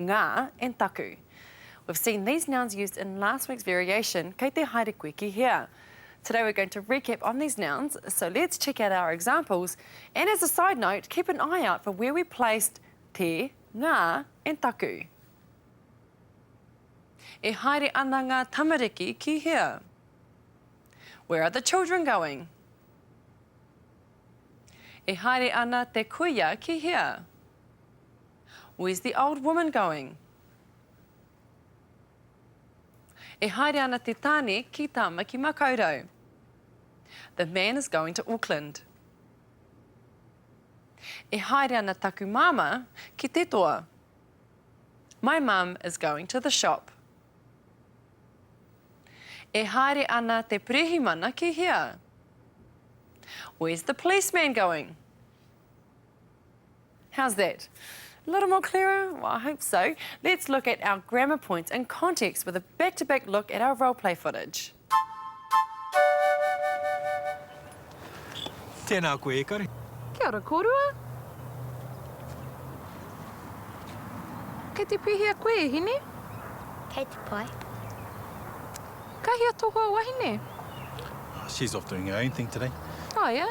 Ngā, and taku. We've seen these nouns used in last week's variation, kei te haere koe ki hea. Today we're going to recap on these nouns, so let's check out our examples, and as a side note, keep an eye out for where we placed te, ngā, and taku. E haere ana ngā tamariki ki hea? Where are the children going? E haere ana te kuia ki hea? Where's the old woman going? E haere ana te tāne ki Tāmaki-makau-rau. The man is going to Auckland. E haere ana taku māmā ki te toa. My mum is going to the shop. E haere ana te perehimana ki hea? Where's the policeman going? How's that? A little more clearer? Well, I hope so. Let's look at our grammar points in context with a back-to-back -back look at our role play footage. Tēnā koe, Ekari. Kia ora kōrua. Kei te pēhea koe, e hine? Kei te pai. Ka hea tō hoa wahine? She's off doing her own thing today. Oh, yeah?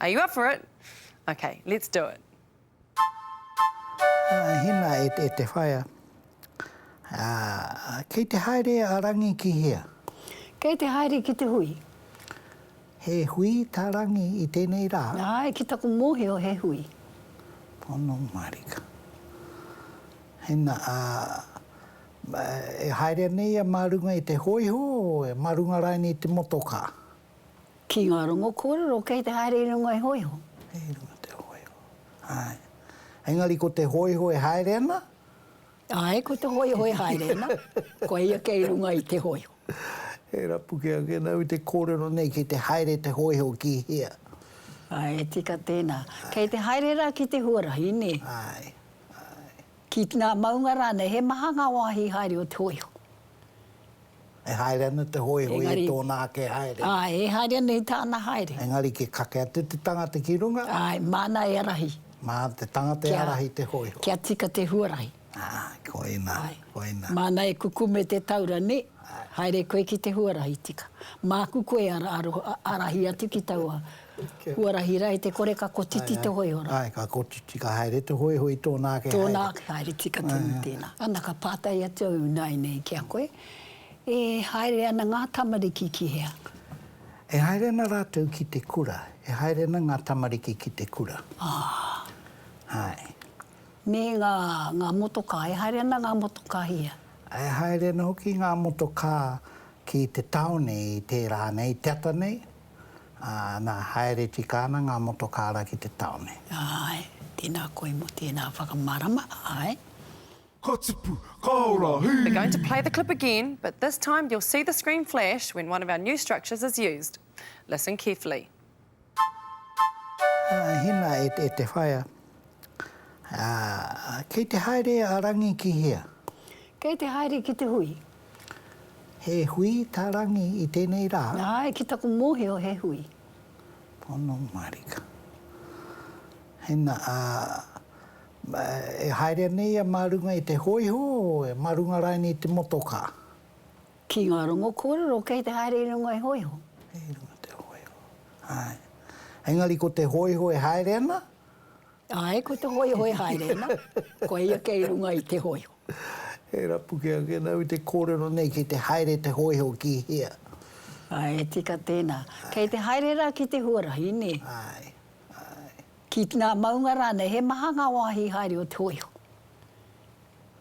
Are you up for it? Ok, let's do it. Hina e te whaea. Kei te haere a Rangi ki hea? Kei te haere ki te hui. He hui tā Rangi i tēnei rā? Āe, ki taku mōhio he hui. Pono marika. Hina, e haere nei ia mā runga i te hōiho, mā runga rānei i te motokā? Ki ngā rongo kōrero kei te haere i runga i hōiho. I runga i te hōiho, āe. Engari ko te hōiho e haere ana? Āe, ko te hōiho e haere ana. Ko ia kei runga i te hōiho. E rapuke ake nau i te kōrero nei kei te haere te hōiho ki hea? Āe, e tika tēnā. Kei te haere rā ki te huarahi, nē? Āe, āe. Ki ngā maunga rānei, he maha ngā wāhi haere o te hōiho? E haere ana te hoihoi Engari, i tōna ake haere. Āe, e haere ana i tāna haere. Engari ki kake atu te tangata ki runga. Āe, māna e ārahi. Mā te tangata e ārahi te hoihoi. Kia tika te huarahi. Ā, koina, koina. Māna e kukume te taura, nē? Āe. Haere koe ki te huarahi, tika. Māku koe ara, ara, ārahi atu ki taua Huarahi rae te kore ka kotiti te hoihora. Ae, ka kotiti, ka haere te hoihoi tōna ake haere. Tōna ake haere tika tonu tēnā. Ana ka pātai atu au ināianei ki a koe, e haere ana ngā tamariki ki hea? E haere ana rātou ki te kura, e haere ana ngā tamariki ki te kura. Aa. Ae. Me ngā, ngā motokā, e haere ana ngā motokā ki hea? E haere ana hoki ngā motokā ki te taone i tērā nei, te ata nei. ā, nā, haere tika ana ngā motokāra ki te tāone. Āe, tēnā koe mō tēnā whakamārama, āe. Ka tipu, ka ora, hī! We're going to play the clip again, but this time you'll see the screen flash when one of our new structures is used. Listen carefully. Hina e te whaea, Kei te haere a Rangi ki hea? Kei te haere ki te hui. He hui tā Rangi i tēnei rā. Āe, ki taku mōhio he hui. Pono marika. Hena, ā, e haerea nei ia mā runga i te hōiho, mā runga raini i te motokā? Ki ngā rongo kōrero kei te haere i runga i hōiho. I runga te hōiho, āe. Engari ko te hōiho e haere ana? Āe, ko te hōiho e haere ana. Koia kei runga i te hōiho. He rapu kē ake nau i te kōrero nei kei te haere te hōiho ki hea? Ae, e tika tēnā. Kei te haere rā ki te huarahi, nē? Ae, ae. Ki ngā maunga rānei, he maha ngā wāhi haere o te hōiho.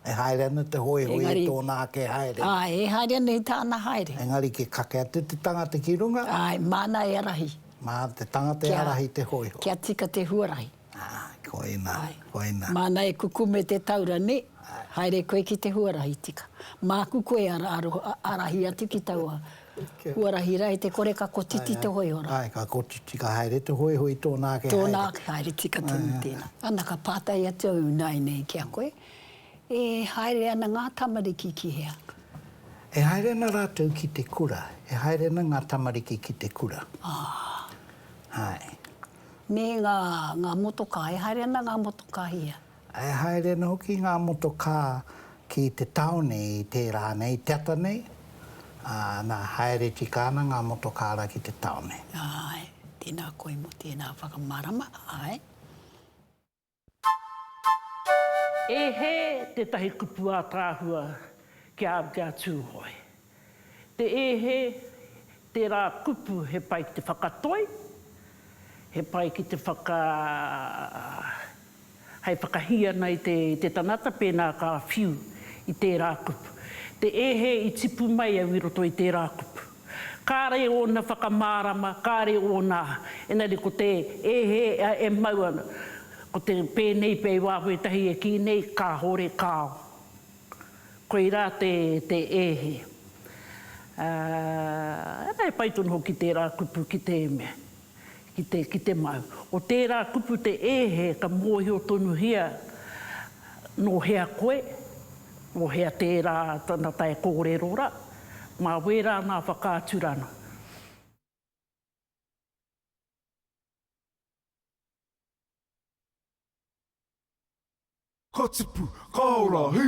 E haere ana te hōiho i tōna ake haere. Ae, e haere ana i tāna haere. Engari ki kake atu te tangata ki runga. Ae, māna e arahi. Mā te tangata e arahi te hōiho. Kia tika te huarahi. Aa, koina, koina. Māna e kukume te taura, nē? Haere koe ki te huarahi tika. Māku koe ara aro, arahi atu ki taua huarahi rā, e te kore ka kotiti te hoihora. Āe, ka kotiti, ka haere te hoihoi tōna ake haere. Tōna ake haere tika tonu tēnā. Ana ka pātai atu au ināianei ki a koe, e haere ana ngā tamariki ki hea? E haere ana rātou ki te kura, e haere ana ngā tamariki ki te kura. Aa. Āe. Me ngā, ngā motokā, e haere ana ngā motokā ia. E haere ana hoki ngā motokā ki te tāone i tērā nei, te ata nei, ā, nā, haere tika ana ngā motokā rā ki te tāone. Āe, tēnā koe mō tēnā whakamārama, āe. E He tētahi kupu ātaahua kia kia Tūhoe. Te E He, tērā kupu he pai ki te whakatoi, he pai ki te whaka, hai whakahī ana i te i te tangata pēnā ka whiu i tērā kupu. Te E He i tipu mai au i roto i tērā kupu. Kāre ōna whakamārama, kāre ōna, engari ko te e hē, e mau ana, ko te pēnei pea i waho ētahi e kī nei, kāore kāo. Koirā te e hē. Ā, e pai tonu hoki tērā kupu ki te mea. ki te ki te mau. Ko tērā kupu te ēhe ka mōhio tonuhia nō hea koe, nō hea tērā tana tae kōrero rā, mā wērā ngā whakaaturanga. Ka tipu, ka ora, hī!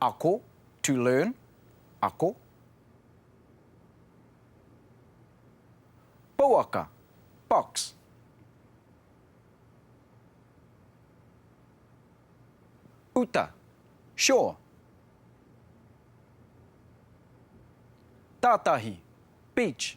Ako, to learn, ako. Pouaka, box. Uta, shore. Tātahi, beach.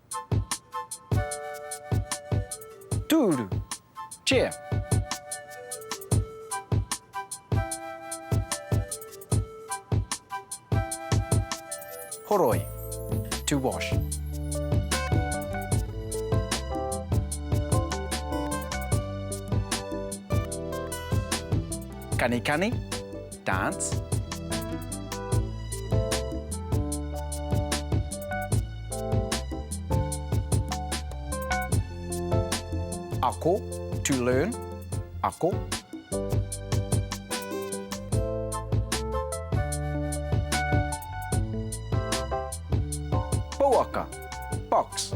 Tūru, chair. Horoi, to wash. Kanikani, Dance. Ako, to learn, ako. Pouaka, box.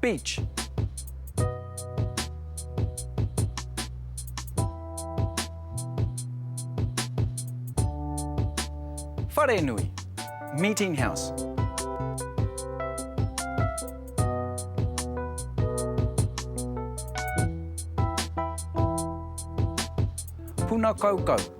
Beach. Wharenui. Meeting house. Puna kaukau.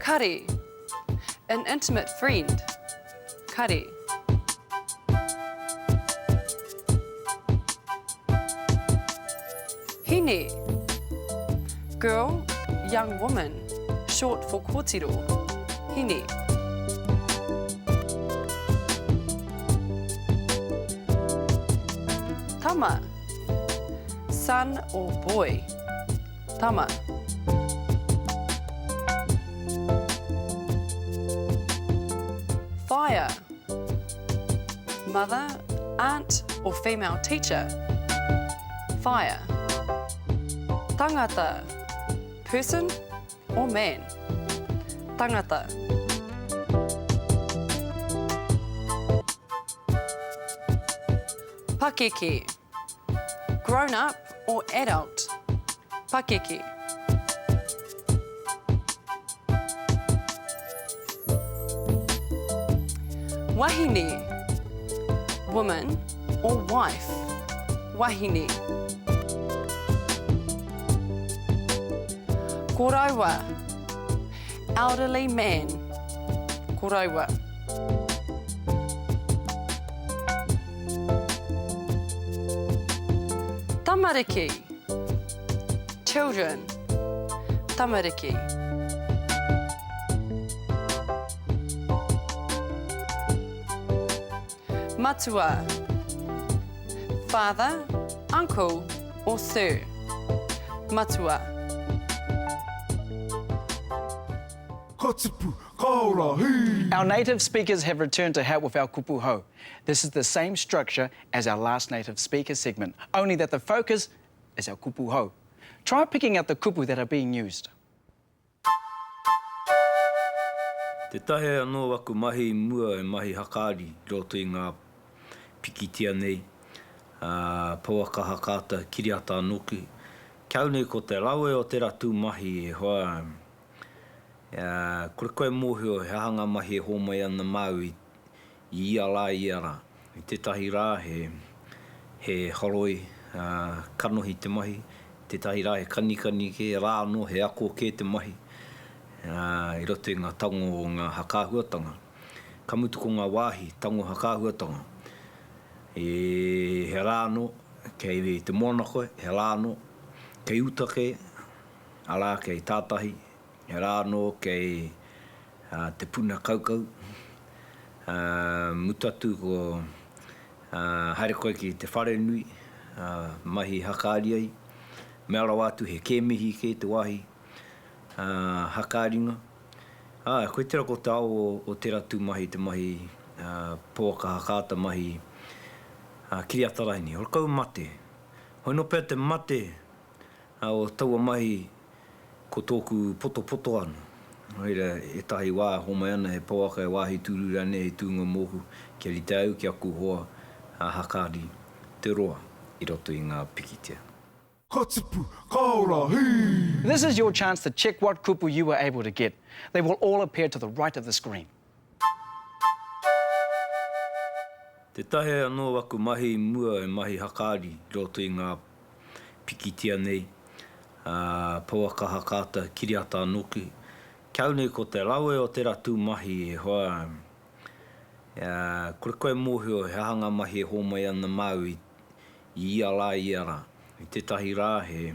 Kare An intimate friend Kare Hine Girl, young woman, short for kōtiro Hine Tama Son or boy Tama. Whaea. Mother, aunt or female teacher. Whaea. Tangata, person or man. Tangata. Pakeke. Grown up or adult? Pakeke. Wahine, woman, or wife? Wahine. Koroua, elderly man. Koroua. Tamariki Children Tamariki Matua Father, uncle or sir Matua Ka tipu, ka ora, hī! Our native speakers have returned to help with our kupu hou. This is the same structure as our last native speaker segment, only that the focus is our kupu hou. Try picking out the kupu that are being used. Te taea anō aku mahi i mua e mahi hakaari i roto i ngā pikitia nei, ā, pouaka hakaata, kiriata anō hoki. Kia au nei ko te rawe o tērā tūmahi e hoa ana. Kore koe e mōhio he aha ngā mahi e hōmai ana māu I ia rā, i ia rā. I tētahi rā he, he horoi, ā, kanohi te mahi, i tētahi rā he kanikani kē rā anō, he ako kē te mahi, ā, i roto i ngā tango o ngā hakaahuatanga. Ka mutu ko ngā wāhi tango hakaahuatanga, e, he rā anō kei te moana koe, he rā anō kei uta kē, arā, kei tātahi, He rā anō kei te puna kaukau, mutu atu ko haere koe ki te wharenui, mahi hakaari ai, mea rawa atu he kēmihi kē te wāhi hakaaringa. Āe, koe tērā ko te ao o tērā tūmahi, te mahi pouaka hakaata, mahi kiriata raini, horakau mate. Hoi nō pea te mate O taua mahi ko tōku potopoto anō. Nō reira, ētahi wā e homai ana he pouaka, he wāhi tūru rānei hei tūnga mōku kia rite au ki aku hoa a Hakari Te Roa i roto i ngā pikitia. Ka tipu, ka ora, hī! This is your chance to check what kupu you were able to get. They will all appear to the right of the screen. Tētahi anō aku mahi i mua he mahi hakaari i roto i ngā pikitia nei, pouaka hakaata, kiriata anō ki. Ki au nei ko te rawe o tērā tū mahi e hoa, kore koe e mōhio he aha ngā mahi e hōmai ana māu I ia rā, i ia rā. I tētahi rā he,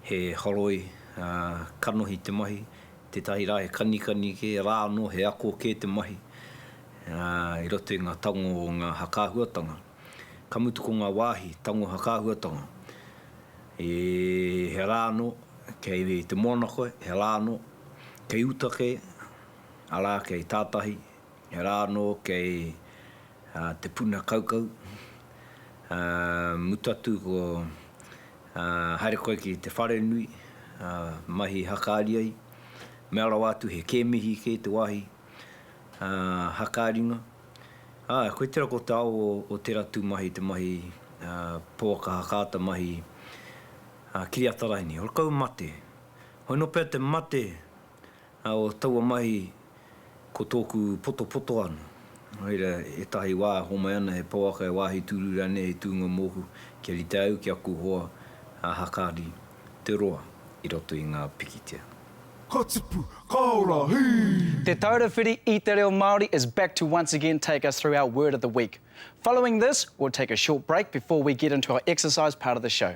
he horoi, ā, kanohi te mahi, tētahi rā he kanikani kē rā anō, he ako kē te mahi, ā, i roto i ngā tango o ngā hakaahuatanga. Ka mutu ko ngā wāhi tango hakaahuatanga, e, he rā anō kei te moana koe, he rā anō kei uta kē, arā, kei tātahi, He rā anō kei te puna kaukau, mutu atu ko haere koe ki te wharenui, mahi hakaari ai, mea rawa atu he kēmihi kē te wāhi hakaaringa. Āe, koe tērā ko te ao o tērā tūmahi, te mahi pouaka hakaata, mahi kiriata raini, horakau mate. Hoi nō pea te mate O taua mahi ko tōku potopoto anō. Nō reira, ētahi wā e homai ana he pouaka, he wāhi tūru rānei hei tūnga mōku kia rite au ki aku hoa a Hakari Te Roa i roto i ngā pikitia. Ka tipu, ka ora, hī! Te Taura Whiri i te Reo Māori is back to once again take us through our word of the week. Following this, we'll take a short break before we get into our exercise part of the show.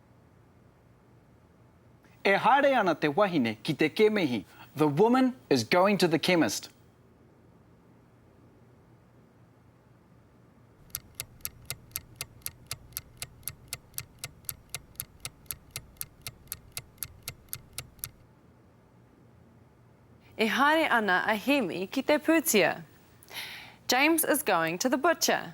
E haere ana te wahine ki te kemihi, The woman is going to the chemist. E haere ana a Hēmi ki te pūtia. James is going to the butcher.